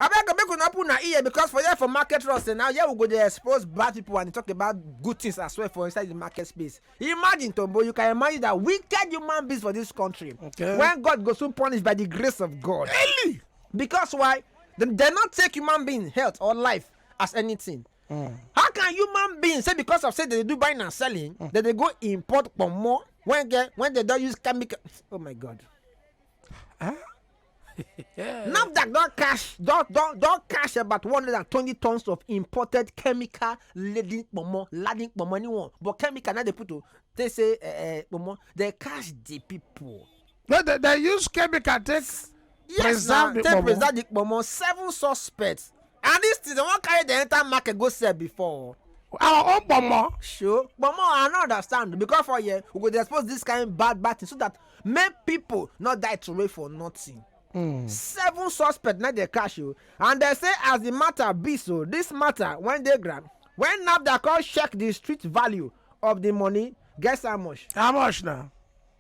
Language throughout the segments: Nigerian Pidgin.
abeg make una open una ear because for here for market ross now here we go dey expose bad people and talk about good things as well for inside the market space imagine tombo you can imagine that wicked human beings for this country okay. when god go soon punish by the grace of god really because why dem dey not take human being health or life as anything mm. how can human being say because of say they do buying and selling mm. dem dey go import pomo when get when they don use chemical oh my god. NAFDAC don cash don don don cash about one hundred and twenty tons of imported chemical laden pomo laden pomo anyone but chemical na dey put o take say uh, eh, eh, pomo dey cash the people. no they they use chemical take yes, preserve na, the take pomo preserve the pomo seven suspects and dis thing dem wan carry dem enter market go sell before our own pomo. sure pomo i no understand because for here we go dey expose this kind bad bad thing so that make people no die throway for nothing. Mm. seven suspects na dey catch o and dem say as the matter be so this matter wen dey ground when nafdac come check the street value of the money guess how much. how much na.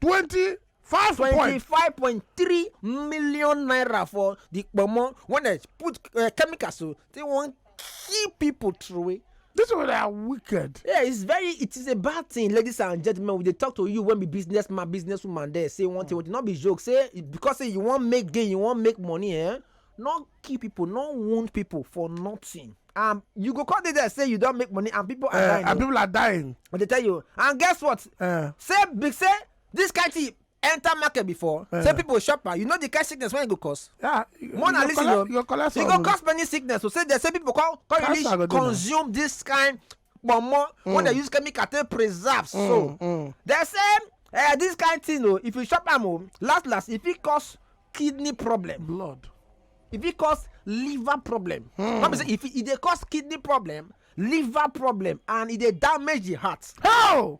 20 five point twenty-five point three million naira for the kpomo when they put uh, chemicals so they wan kill people throway. This one are wicked. Yeah, it's very it is a bad thing, ladies and gentlemen. We dey talk to you when be businessman, businesswoman there say one thing, mm. not be joke. Say because say you wan make gain, you wan make money, eh? no kill people no wound people for nothing and you go come dey there say you don make money and people are eh, dying and people are dying but they tell you and guess what eh. say big say this kind thing enter market before eh. say people shop am you know the kind sickness wey e go cause yeah more na listen o e go cause many sickness o say they say people come come really consume this kind kpomo wey dey use chemical take preserve so dem say eh, this kind thing o if you chop am o last last e fit cause kidney problem blood e fit cause liver problem no be say e fit e dey cause kidney problem liver problem and e dey damage the heart how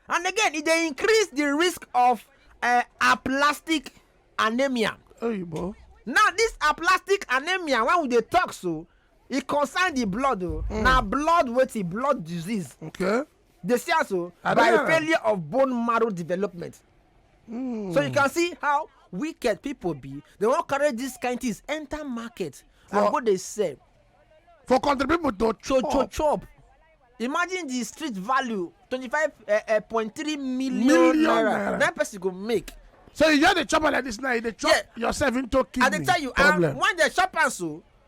and again e dey increase the risk of uh, aplastic anemia oyibo now this aplastic anemia wey we dey talk so e concern the blood o oh. mm. na blood wetin blood disease okay dey see as o oh, by failure of bone marrow development mm. so you can see how wicked people be they wan carry these kind things enter market for, and go dey sell for country people to chop to, to chop imagine the street value twenty-five eh, eh, point three million, million naira na person go make so you just dey chop am like this now you dey chop yeah. yourself into kidney problem i dey tell you and when dem chop am so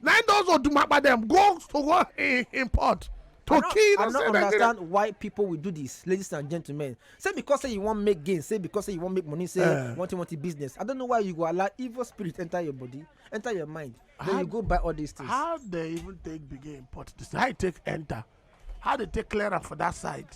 na im those odumapa dem go to go import to kill i no understand why people will do this ladies and gentlemen say because say you wan make gain say because say you wan make money say eh. one thing one thing business i don't know why you go allow evil spirit enter your body enter your mind then you go buy all these things. how they even take begin import this how you take enter how they take clear am for that side.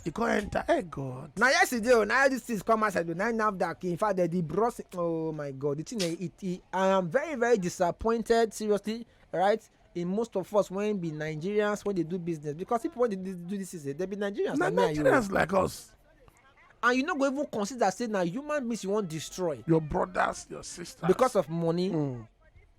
e come enter hey god na yesterday o na all these things come outside o na nafdac in fact the bros oh my god the thing eh, it, it i am very very disappointed seriously right in most of us when be nigerians when they do business because people when they do, do this is eh, they be nigerians na like me and you nigerians like us and you no go even consider say na human beings you wan destroy your brothers your sisters because of money mm.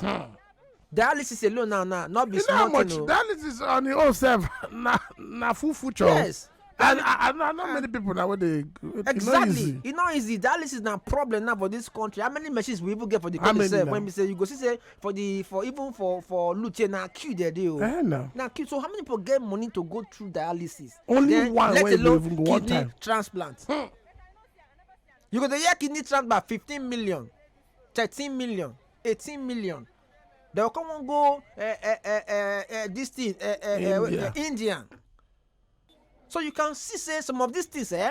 Hmm. dialysis alone now na no be you know how small much thing o dialysis on your own self na na full future yes and i i know i know many people na wey dey e no exactly easy e no easy dialysis na problem now for this country how many machines we even get for the How country many sef now? when be say you go see say for the for even for for lute here na queue there dey o eh na na queue so how many people get money to go through dialysis Only then one let wey go alone even go one kidney time. transplant Hmm. you go dey hear kidney transplant fifteen million thirteen million eighteen million dem go come go uh, uh, uh, uh, uh, this thing uh, uh, India. Uh, Indian so you can see say some of these things eh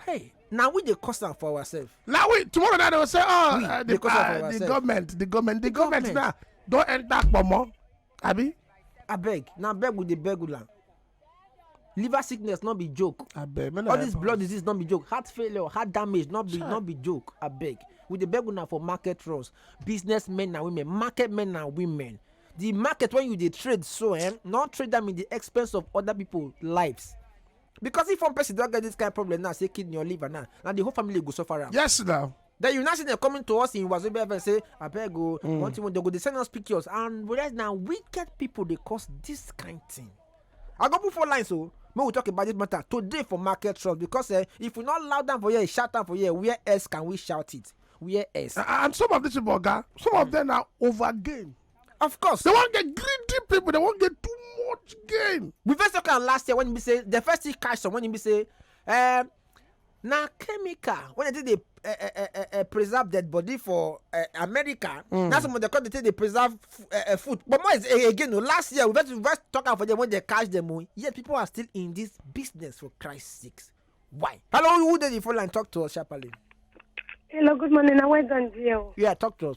hey na we dey cause am for ourselves. na we tomorrow night dem say oh we, uh, the, uh, the government the government the, the government, government now don enter kpomo abi. abeg na beg we dey beg una liver sickness no be joke abeg all this blood disease no be joke heart failure heart damage no be no be joke abeg we dey beg una for market runs business men and women market men and women the market when you dey trade so eh no trade am in the expense of other people lives because if one person don get this kind of problem now say kidney or liver now na the whole family go suffer am. yes na. Then you now see them coming to us in Wazobia FM say, I beg go, mm. one thing they go, they send us pictures. And whereas now wicked people they cause this kind thing. I go put four lines so oh. may we talk about this matter today for market trust because uh, if we not loud down for here, shout down for here, where else can we shout it? Where else? Uh, and some of these people, guy, some mm. of them are over game. Of course. They won't get greedy people, they won't get too much game. We first talk last year when we say the first thing cash some when we say um na chemical wey dem take dey eh, eh, eh, eh, eh, preserve dead body for eh, america mm. na some of dem come dey take dey preserve eh, eh, food but more is eh, again o last year we first we first talk am for them when they catch them o yet people are still in this business for christ sakes why hello who dey the phone line talk to us sharply Hello, good morning. I went on deal. yeah talk to us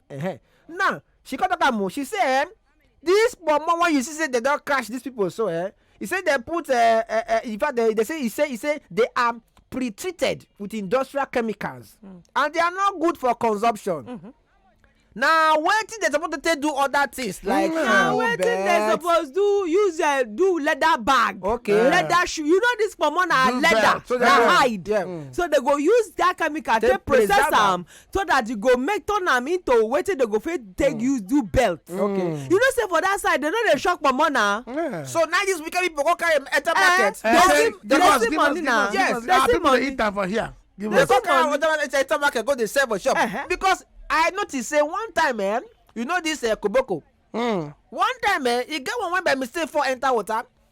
-huh. now she come talk am o she say eh, this pomo when you see say dem don crash these people so eh, he say dem put eh, eh, eh, in fact they, they say he say he say they are pre-treated with industrial chemicals mm. and they are not good for consumption. Mm -hmm. na wetin dem suppose take do other things like mm. na wetin dem suppose do use uh, do leather bag okay yeah. leather shoe you know this pomo na leather so na hide yeah. mm. so they go use that chemical take process am so that you go make turn am into wetin dem go fit take use do belt okay you know say for that side dem no dey shock pomo na so now this wicked people go carry am enter market Eh, They see- they Give us, see give us, money give us, na. give us. Yes, They Ah, see people dey money. eat am for here. Give they us. go carry am enter market enter market go dey sell for shop Uh-huh. because i notice say one time eh you know this eh, koboko Mm. one time eh e get one wey by mistake fall enter water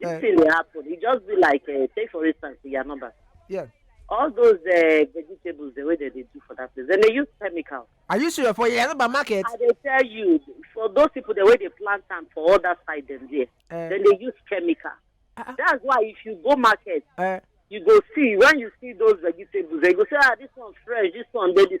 This uh, thing dey happen. It just be like uh, take for instance your number. Yeah. All those uh, vegetables the way that they do for that place, then they use chemicals. Are you sure for your number market? I they tell you for those people the way they plant them for other side them there, uh, then they use chemical. Uh, uh, That's why if you go market, uh, you go see when you see those vegetables, they go say ah this one fresh, this one baby.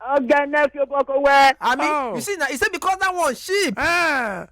ọgẹnẹ fi bọkọ wẹ. I mean, Oh. you see now, he said because that one sheep. Eh,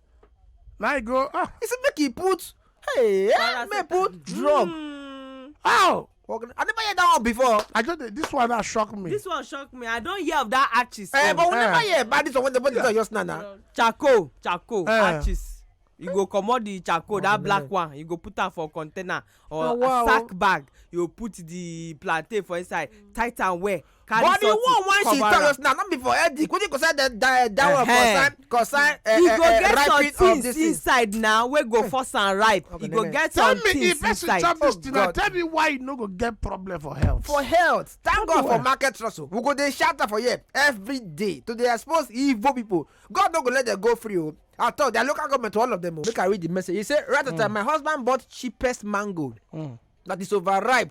my go. Oh, He said make he put, hey, eh, make he put drug. Mm, oh. Organ- I never hear that one before. I just this one that shocked me. this one shock me i don hear of that artist. Eh, but we Eh. never hear about this one when they put this on just now. now. charcoal charcoal Eh. artist you go comot the charcoal that black one you go put am for container or Oh, wow. sack bag you go put the plantain for inside tight am well carry but the something one wey she cover talk am. just now no be for headache wetin concern the that that one Ehem. concern concern uh, e go uh, get some ripening of things this thing. inside na wey go force am ripe Okay, e go nene. get tell some me if things person inside chop this Oh, thing na God. tell me why you no go get problem for health. for health thank god for well. market trust o we go dey shout am for here every day to dey expose evil people god no go let them go free o at all their local government to all of them o. make i read the message he say right at time my husband bought cheapest mango that is overripe